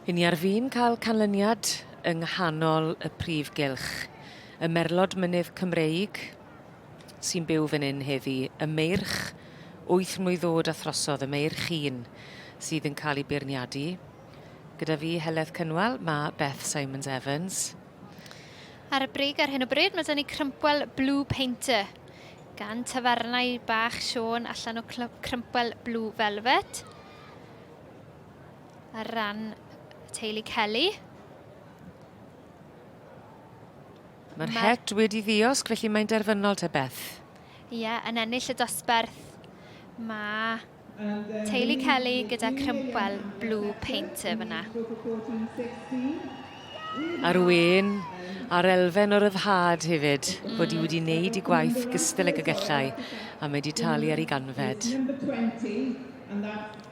Yn ni ar fin cael canlyniad yng nghanol y prif gylch. Y merlod mynydd Cymreig sy'n byw fan hyn heddi, y meirch wyth mlwydd ddod a throsodd, y meirch un sydd yn cael ei beirniadu. Gyda fi Heledd Cynwal, mae Beth Simons Evans. Ar y brig ar hyn o bryd, mae dyn ni crympwel Blue Painter gan tafarnau bach Siôn allan o crympwel Blue Velvet. ar ran teulu Kelly. Mae'r Mae'r- het wedi ddiosg, felly mae'n derfynol te Beth. Ie, yeah, yn ennill y dosbarth mae teulu Kelly gyda crympwel blue painter fyna. A'r wen a'r elfen o ryddhad hefyd, mm. bod i wedi wneud i gwaith gystal ag y gellau, a mae wedi talu ar ei ganfed.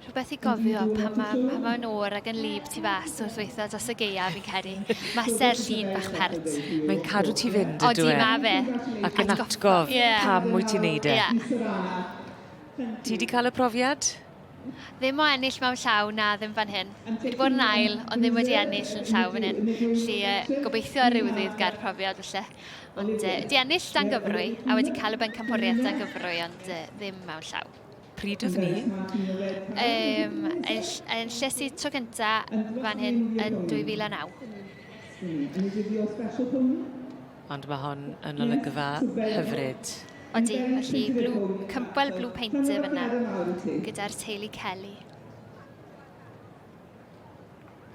Rhywbeth i gofio pan mae, pan mae nhw o'r ag yn lib tu fas wrth weithio dros y geia, fi'n credu. Mae ser llun bach pert. Mae'n cadw ti fynd, ydw e? Odi, mae fe. Ac yn atgof yeah. pam mwy ti'n neud e. Yeah. Ti di cael y profiad? Ddim o ennill mewn llaw, na, ddim fan hyn. Fi wedi bod yn ail, ond ddim wedi ennill yn llaw fan hyn. Felly, uh, gobeithio ar ryw ddydd gair profiad, felly. Ond uh, di ennill dan gyfrwy, a wedi cael y bencampwriaeth dan gyfrwy, ond uh, ddim mewn llaw. Pryd oedd ni? Um, yn, yn llesu tro cynta fan hyn yn 2009. Ond mae hon yn olygfa hyfryd. Odi, felly blue, cympwel Blue Painter fyna, gyda'r teulu Kelly.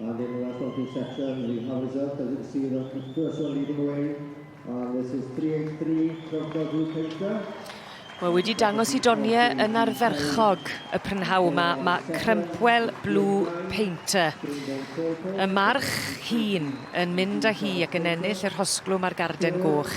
And in the last opening section, we have results. As you can see, the first one leading away. And this is 383, Troffa Group Painter. Mae wedi dangos i Donie yn arferchog y prynhaw yma. Mae Crempwell Blue Painter. Y march hun yn mynd â hi ac yn ennill yr hosglwm a'r garden goch.